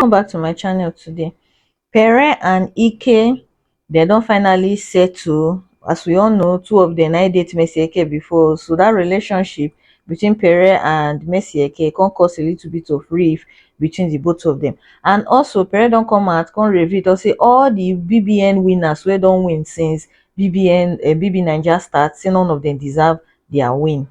welcome back to my channel today pere and ike they don finally settle as we all know two of them na date messi eke before so that relationship between pere and messi eke can cause a little bit of rift between the both of them and also pere don come out come reveal don say all the bbn winners wey don win since bbn um bbnaija start say none of dem deserve dia win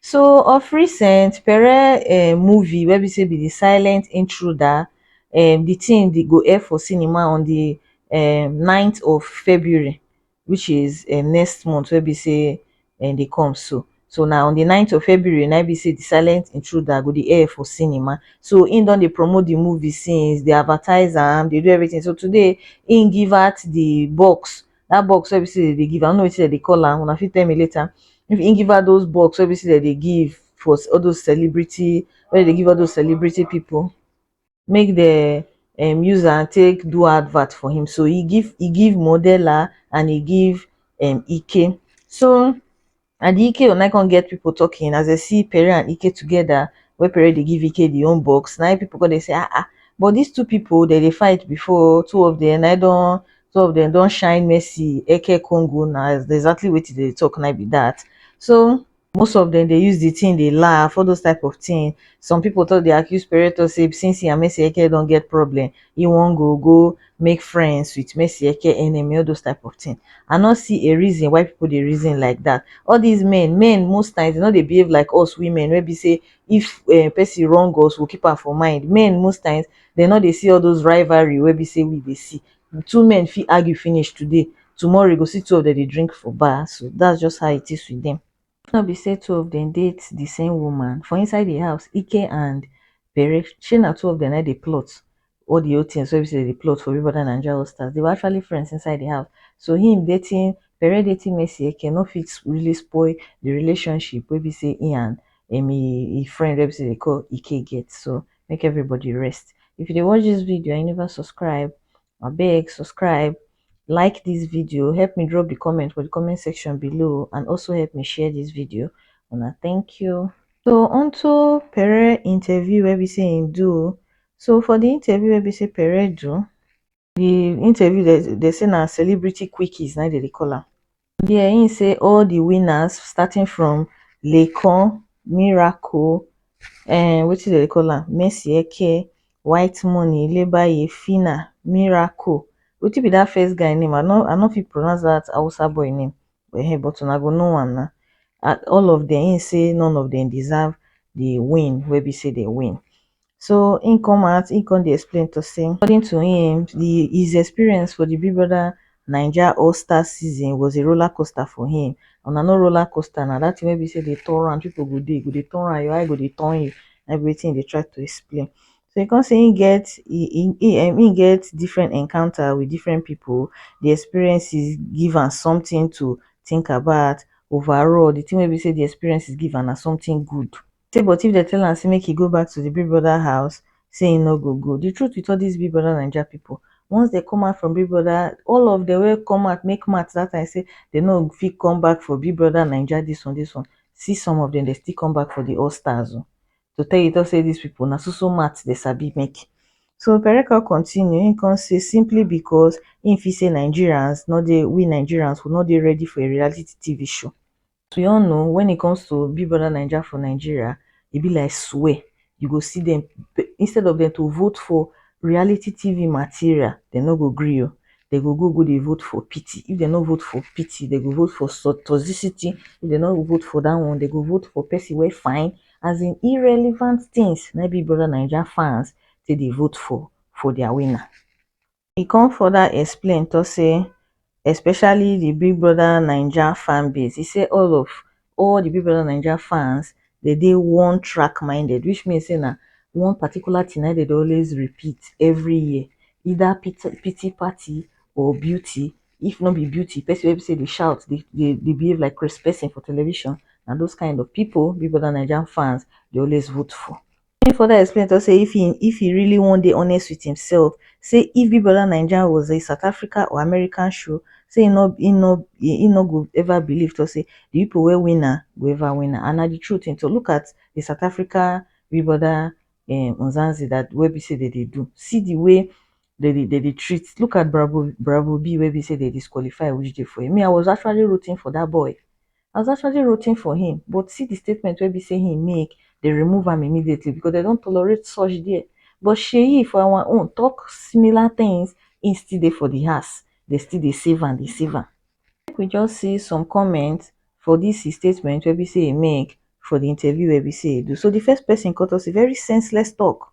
so of recent pere um movie wey be say be di silent intruder um di tin di go air for cinema on di um ninth of february which is um next month wey be say dem dey come so. So na on di ninth of February na im be sey di silent intruder go dey air for cinema. So im don dey promote di movie since, dey advertise am, dey do everything. So today im give out di box, dat box wey be sey dem dey give, I no know wetin dem dey call am, una fit tell me later. Im give out those box wey be sey dem dey give for all those celebrity, wey dem dey give all those celebrity pipu. make dem um use am take do advert for him so he give he give modela and he give um ike so and the ike own na come get people talking as they see pere and ike together wey pere dey give ike the own box na people come dey say ah ah but these two people they dey fight before two of them na don two of them don shine mercy eke congo na exactly wetin they dey talk na be that so most of dem dey use the thing dey laugh, all those type of thing, some people talk dey accuse Pareto say since he and Mercy Eke don get problem, he wan go go make friends with Mercy Eke enemy, all those type of thing, I no see a reason why people dey reason like that, all these men, men most times dem no dey behave like us women wey be say if um person wrong us we go keep am for mind, men most times dem no dey see all those rivalry wey be say we dey see, two men fit argue finish today tomorrow you go see two of dem dey drink for bar so that's just how it is with them. Make no be say two of them date the same woman for inside the house Ike and Bere shey na two of them na dey plot all the whole things wey be say dem dey plot for Big Brother Naija All Stars they were actually friends inside the house so him dating Bere dating Mercy Eke no fit really spoil the relationship wey be say him and him friend wey be say dem dey call Ike get so make everybody rest if you dey watch this video and you never subscribe abeg subscribe like this video help me drop the comment for the comment section below and also help me share this video una thank you so onto pere interview wey be say him do so for the interview wey be say pere do the interview dem dey say na celebrity quickies na dem dey call am there im say all the winners starting from laycon miracle um wetin dem dey call am mercy eke white money lebaye phyna miracle wetin be that first guy name i no i no fit pronounce that hausa boy name um but una go know am na all of them im say none of them deserve the win wey be say dem win so he come out he come dey explain to say according to him the his experience for the big brother naija all star season was a roller coaster for him una know roller coaster na that thing wey be say dey turn round people go dey go dey turn round your eye go dey turn you na be wetin he dey try to explain so he come say he get he he um he get different encounter with different people the experiences give am something to think about overall the thing wey be say the experiences give am na something good Say but if dem tell am say make he go back to the big brother house say he no go go the truth with all this big brother naija people once dem come out from big brother all of them wey come out make mouth that time say they no fit come back for big brother naija this one this one see some of them they still come back for the all stars o to tell you talk say these people na so so mouth they sabi make so Pere come continue he come say simply because he feel say Nigerians no dey we Nigerians we no dey ready for a reality TV show to your own o when it comes to big brother naija for Nigeria e be like swear you go see dem instead of dem to vote for reality TV material dem no go gree o dem go go go dey vote for pity if dem no vote for pity dem go vote for toxicity if dem no vote for that one dem go vote for person wey fine as in irrelevant things na im big brother naija fans take dey vote for for their winner. e come further explain tok say especially di big brother naija fan base e say all of all di big brother naija fans dey dey one track minded which mean say na one particular thing na im dem dey always repeat every year either pity pity party or beauty if no be beauty person wey be say dey shout dey dey behave like craze person for television na those kind of people big brother naija fans dey always vote for im further explain tok say if e if e really wan dey honest wit imsef say if big brother naija was a south africa or american show say im no im no im no go ever believe tok say di pipo wey win am go ever win am and na di truth im tok look at di south africa big brother um mzansi dat wey be say dem dey do see di way dem dey dem dey treat look at bravo bravo B wey be say dem disqualify which dey for im me I was actually rooting for dat boy I was actually rooting for him but see the statement wey be say he make they remove am immediately because they don't tolerate such there but Seyi for our own talk similar things he still dey for the house they still dey save am dey save am make we just see some comments for this his statement wey be say he make for the interview wey be say he do so the first person come talk say very senseless talk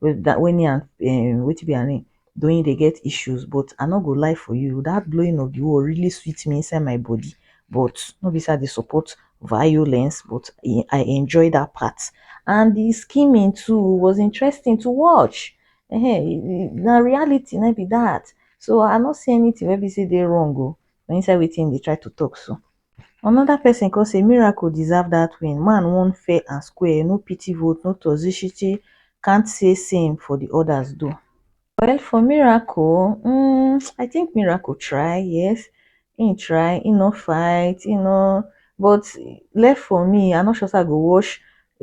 wey me and um wetin be her name Doyin dey get issues but I no go lie for you that blowing of the wall really sweet me inside my body but no be say I dey support violence but I enjoy that part and the scheming too was interesting to watch um na reality na im be that so I no see anything wey be say e dey wrong o for inside wetin im dey try to talk so. Another person come say Miracle deserve that win, man won fair and square, no pity vote, no toxicity, can't say same for the others though. Well for Miracle, um I think Miracle try, yes, he try, he no fight, he no but left for me, I'm not sure say I go watch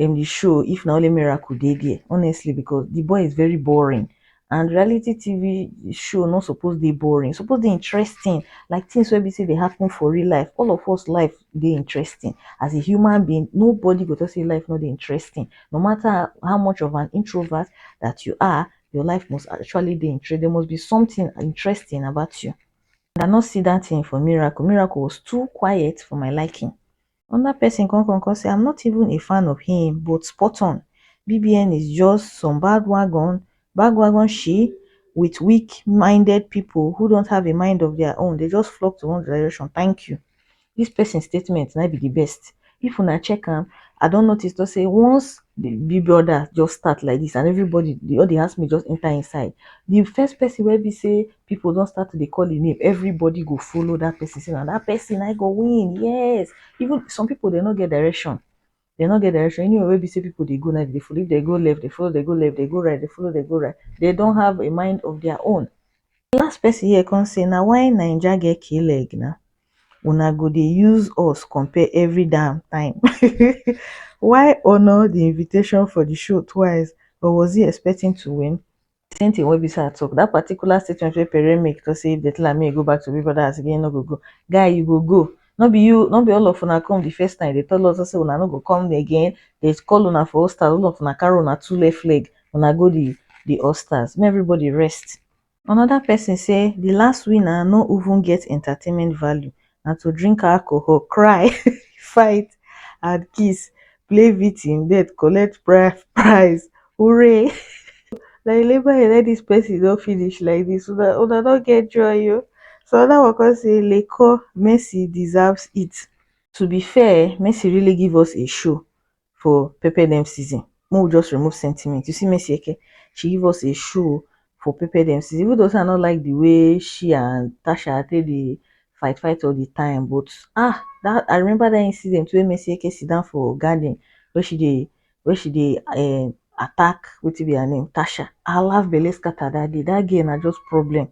um, the show if na only Miracle dey there honestly because the boy is very boring and reality TV show no suppose dey boring, e suppose dey interesting like things wey be sey dey happen for real life. All of us life dey interesting as a human being nobody go talk sey life no dey interesting no matter how much of an introvert that you are your life must actually dey interesting, there must be something interesting about you. I no see that thing for Miracle, Miracle was too quiet for my liking. Another person come come come say I'm not even a fan of him but spot on BBN is just some bad wagon bad wagon she with weak minded people who don't have a mind of their own they just flock to one direction thank you this person's statement might be the best if una check am I don't notice to say once the big brother just start like this and everybody the all the housemates just enter inside the first person wey be say people don start to dey call him name everybody go follow that person say na that person na him go win yes even some people dem no get direction dem no get direction anywhere wey be say people dey go na him dem dey follow if dem go left dem follow dem go left dem go right dem follow dem go right dem don have a mind of their own the last person here come say na why naija get k-leg na una go dey use us compare every damn time why honour the invitation for the show twice or was he expecting to win same thing wey be sey I talk that particular statement wey Pere make talk sey if dem tell am make e go back to Big Brother house again e no go go, guy you go go no be you no be all of una come the first time dey tell us sey una no go come again dey call una for hostels all of una carry una two left leg una go the the hostels make everybody rest. Another person say the last winner no even get entertainment value na to drink alcohol, cry, fight and kiss, play victim den collect bride price hooray na you labour and let dis person don finish like dis una una don get joy oh. So another one come say Laycon Mercy deserves it, to be fair Mercy really give us a show for pepper dem season make we just remove sentiment you see Mercy Eke she give us a show for pepper dem season even though say I no like the way she and Tasha take dey fight fight all the time but ah that I remember that incident wey Mercy Eke sit down for garden wey she dey wey she dey um, attack wetin be her name Tasha I laugh belle scatter that day that girl na just problem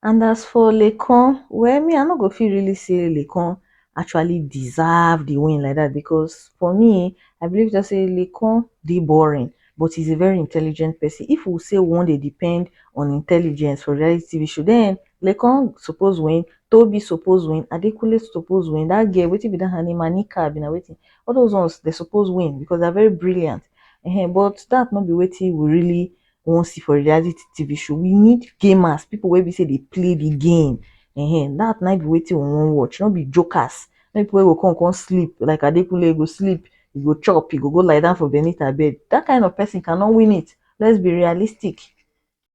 And as for Lekan, well, me, I no go feel really say Lekan actually deserve the win like that because for me, I believe just say Lekan dey boring, but he's a very intelligent person. If we say one they depend on intelligence for reality TV show, then Lekan suppose win, Toby suppose win, Adekunle suppose win, that girl, wetin be that her name, Anika, be na wetin. All those ones, they suppose win because they're very brilliant. Uh-huh. But that not be wetin we really we wan see for reality TV show, we need gamers, people wey be say dey play the game. Ehen, that na be wetin we wan watch, no be jokers, no be people wey go come come sleep like Adekunle, e go sleep, e go chop, e go go lie down for Benita bed. That kind of person cannot win it. Let's be realistic.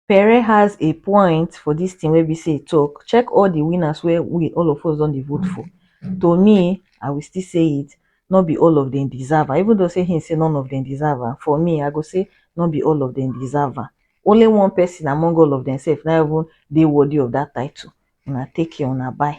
Pere has a point for this thing wey be say e talk. Check all the winners wey we all of us don dey vote for. To me, I will still say it, nor be all of dem deserve am even though sey him sey none of dem deserve am for me I go sey nor be all of dem deserve am only one person among all of dem self na even dey worthy of that title una take care una bye.